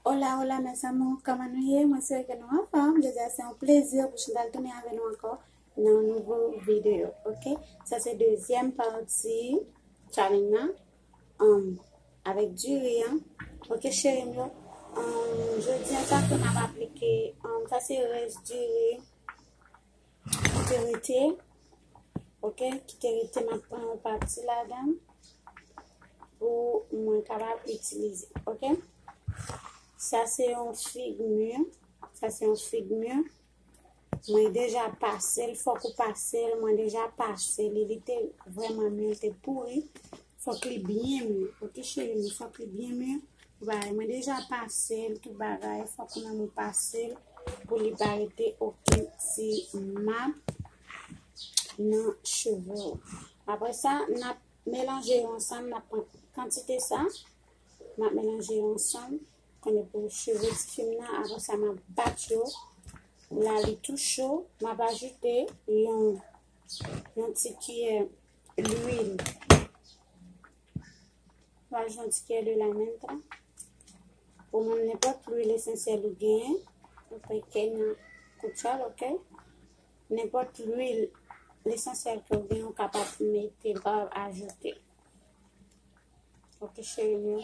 Hola hola mes amours, kòman nou ye? Mwen swè ke nou anfòm, jodi a se yon plezi pou Chantal tounen avè nou ankò nan yon nouvo video, ok? Sa se dezyèm pati challenge nan, um, avèk diri an, ok cheri m yo? Um, jodi a sa ke m ap aplike, um, sa se rès diri, Kite rete. Ok, kite rete map pran yon pati ladan pou mwen kapab itilize. Ok. Sa se yon fig mur. Sa se yon fig mur. Mwen deja pase l, fòk ou pase l. Mwen deja pase li. Li te vreman mur, li te pouri. Fok li byen mi ok cheri mwen fok li byen mi Bagay mwen deja pasel tout bagay fok ou menm ou pasel pou li pa rete oken ti map nan cheve ou apre sa nap melanje yo ansanm nap pran kantite sa map melanje yo ansanm konye pou cheve ti fim nan apre sa map bat yo la li tou cho map ajoute yon yon ti kiyè Lwil. Mwen al jwenn ti kè lwil la menm tan. Ou menm nenpòt lwil esansyèl ou genyen. Ou fè kè nan koutyal, ok? Nenpòt lwil esansyèl ke ou genyen ou kapab mete ba ajoute. Ok, cheri mwen.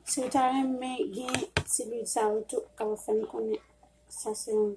Si ou ta renmen gen ti lwil sa ou tou, kapab fè m konnen sa se yon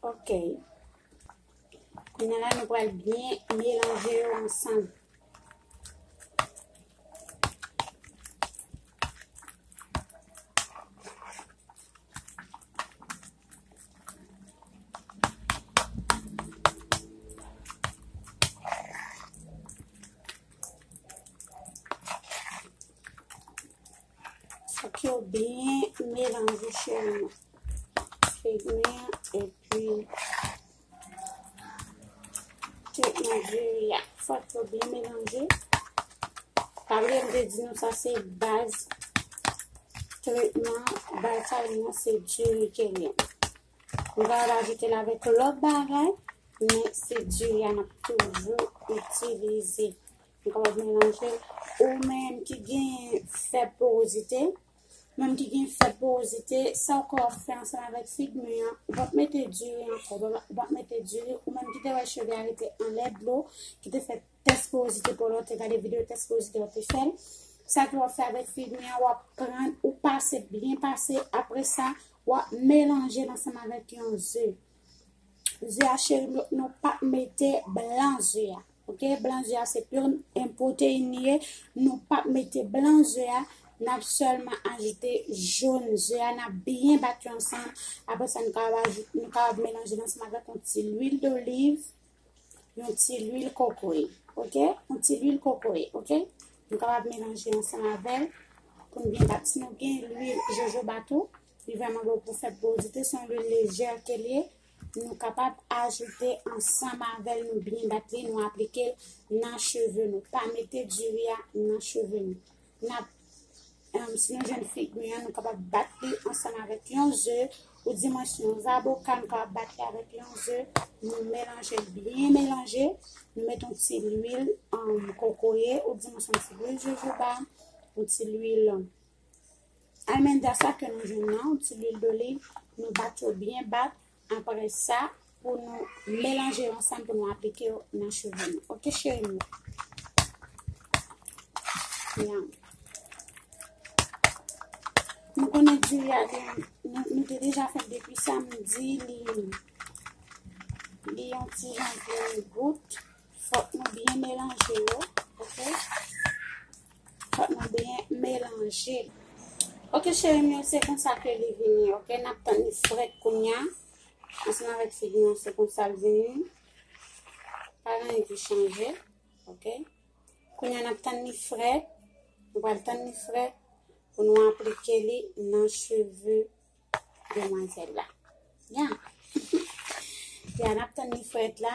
Ok. Kounya la nou pral byen melanje yo ansanm. Fok yo byen melanje cheri. Fignia epi tout Nigeria. Fok yo byen melanje. Pabli m de di nou sa se baz tretman baz sa yon nou se diri kenyen. M va rajoute la vek lòt bagay men se diri an ap toujou itilize. Li pa wè melanje. Ou menm ki gen fè porozite, menm ki gen fè porozite, sa ou ka fè ansanm avèk fig mi an, ou pap mete diri ankò, ou pap mete diri, ou menm ki te wè cheve a rete anlè dlo, ki te fè tès porozite pou lò, te gade videyo tès porozite ou te fèl, sa tou wap fè avèk fig mi an, wap pran, ou pase, byen pase, apre sa, wap melanje ansanm avèk yon ze. ze a cheri nou, nou pa mete blan ze a, ok, blan ze a se pur en protein li ye, nou pa mete blan ze a, nap sèlman ajoute jaune ze a, nap byen bat yo ansanm, apre sa nou kapab ajoute, nou kapab melanje l ansanm avèk yon ti lwil doliv, yon ti lwil kokoye, ok, yon ti lwil kokoye, ok, nou kapab melanje ansanm avèl, pou nou byen bat, si nou gen lwil jojoba tou. Li vrèman bon pou fèt bon dite son lwil lejè ke liye nou kapab ajoute ansanm avèl nou byen bat li nou aplikel nan cheve nou pa mete diri a nan cheve nou nap si nou jwenn fig mi an nou kapab bat li ansanm avèk yon ze ou di mwen si yon zaboka nou kapab bat li avèk yon ze nou melanje byen melanje nou met yon ti lwil kokoye ou di mwen son ti lwil jojoba yon ti lwil Almendra sa ke nou jwenn nan yon ti lwil doliv, nou bat yo byen bat, aprè sa pou nou melanje yo ansanm pou nou aplike yo nan cheve nou ok cherim yo. Yum. Nou konnen diri a gen, nou te deja fèt depi samdi li li yon ti jan vin gout. Fòk nou byen melanje yo ok. Fòk nou byen melanje. Ok cheri m yo se konsa ke li vini ok nap tann li frèt kounya ansanm avèk figi an se konsa l vini pa gen anyen ki chanje ok kounya nap tann li frèt nou pral tann li frèt pou nou aplike li nan cheve demwazèl la ya ya nap tann li frèt la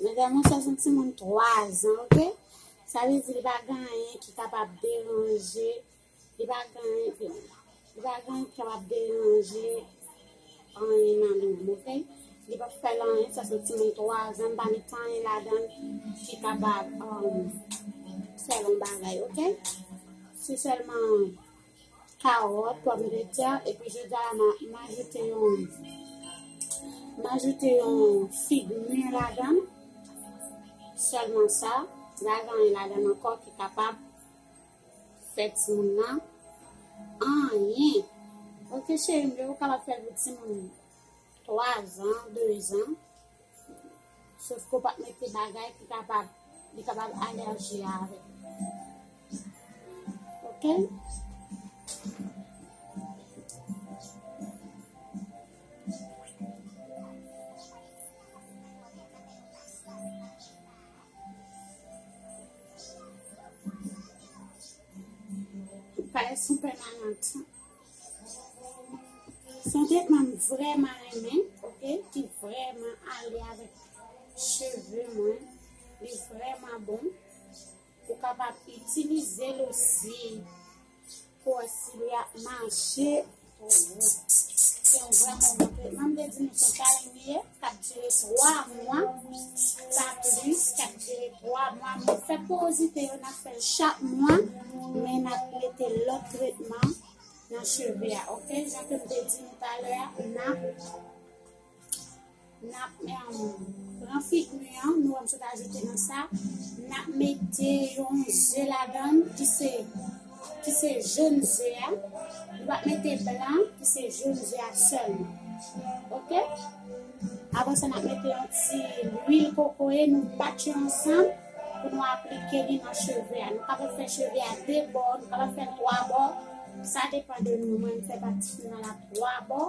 Medam yo sa son ti moun 3 zan ok. Sa vle di li pa gen anyen ki kapab deranje Li pa gen anken. Li pa gen anken wap deranje anyen nan li menm ok. Li pap fèl anyen sa se yon timoun 3 zan m pa met anyen ladan ki kapab fèl yon bagay ok. Se sèlman kawòt, pòm de tè epi jodia la m ajoute yon m ajoute yon fig mi ladan sèlman sa. Li pa gen anyen ladan ankò ki kapab Sex moun nan anyen. Ok cherim men ou kapab fèl pou timoun 3 zan 2 zan sof ke ou pa mete bagay ki kapab li kapab alèji avèl ok. Pale sou pèmanant. Son tretman vreman renmen, ok, ki vreman ale avèk cheve mwen. Li vreman bon. Ou kapab itilize l osi. Fòse li ap mache pou ou. Se yon vrèman bon tretman. M te di nou se karin li ye. Kap dire 3 mwa. Pa plis. Kap dire 3 mwa. Mwen fè porozite yo nan fèl chak mwa. Men nan mete lòt tretman nan cheve a. Ok. Jan ke m te di nou talè a. Nan. N ap pran figmi an, nou wèm sot ajoute nan sa, n ap mete yon ze ladan ki se ki se joun ze a, nou ap mete blan ki se joun ze a sèlman. Ok? Avan sa n ap mete yon ti lwil kokoye, nou bat yo ansanm pou nou aplike li nan cheve a. Nou kapab fè cheve a de bò, nou kapab fè twa bò, sa depan de nou, mwen m fè patisyon nan la twa bò.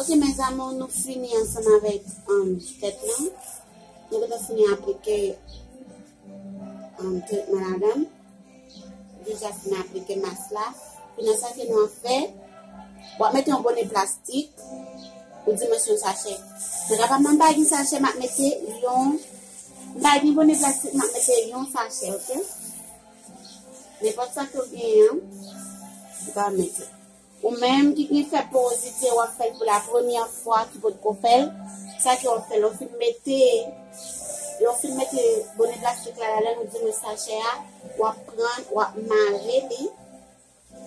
Ok mes amours nou fini ansanm avèk tèt lan nou gentan fini aplike tretman la dan deja fini aplike mas la kounye sa ke nou ap fè wap mete yon bone plastik ou di mwen se yon sachè se la pa mwen pa gen sachè map mete yon pa gen bone plastik map mete yon sachè ok ne pot sa ke ou gen yon ou ka mete Ou menm ki knip fè porozite wap fèl pou la premyè fwa ki potko fèl sa ke wap fè lè w fin mete lè w fin mete bone plastik la ladann ou di men sachè a wap pran wap mare li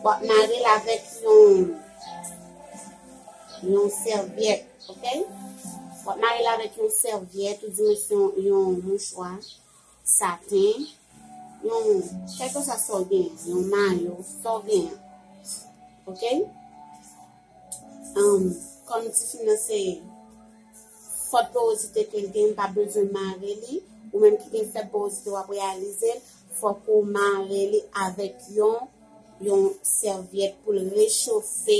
wap mare l avèk yon yon sèvyèt ok wap mare l avèk yon sèvyèt ou di men yon mouchwa. Saten, yon, kèlkeswa sa w genyen, yon mayo, sa w genyen. Ok? Anm, kòm tifi nan se fòt powozite ke l genyen, m pa bezwen mare li, ou menm ki gen fèb powozite w ap reyalize l, fòk ou mare li avèk yon, yon sèvyèt pou l rechofe.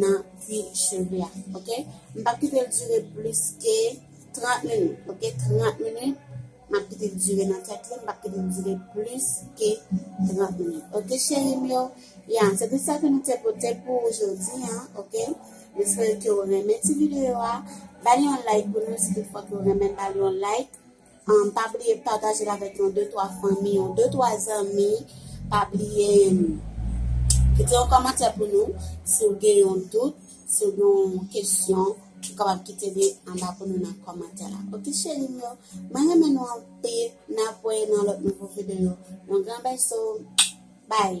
nan kwi cheve a ok m pap kitel dure plis ke 30 minit ok 30 minit map kitel dure nan tèt li m pap kitel dure plis ke 30 minit ok cheri m yo ya se tout sa ke nou te pote pou jodi an ok m espere ke ou renmen ti video a bali yon like pou nou si tout fwa ke ou renmen bali yon like Pa bliye patajel avèk yon de twa fanmi yon de twa zanmi pa bliye kite yon kòmantè pou nou si ou gen yon dout si ou gen yon kesyon ou kapab kite li anba pou nou nan kòmantè la ok cherim yo mwen renmen nou anpil nap voye nan lòt nouvo videyo yon gran bèso bye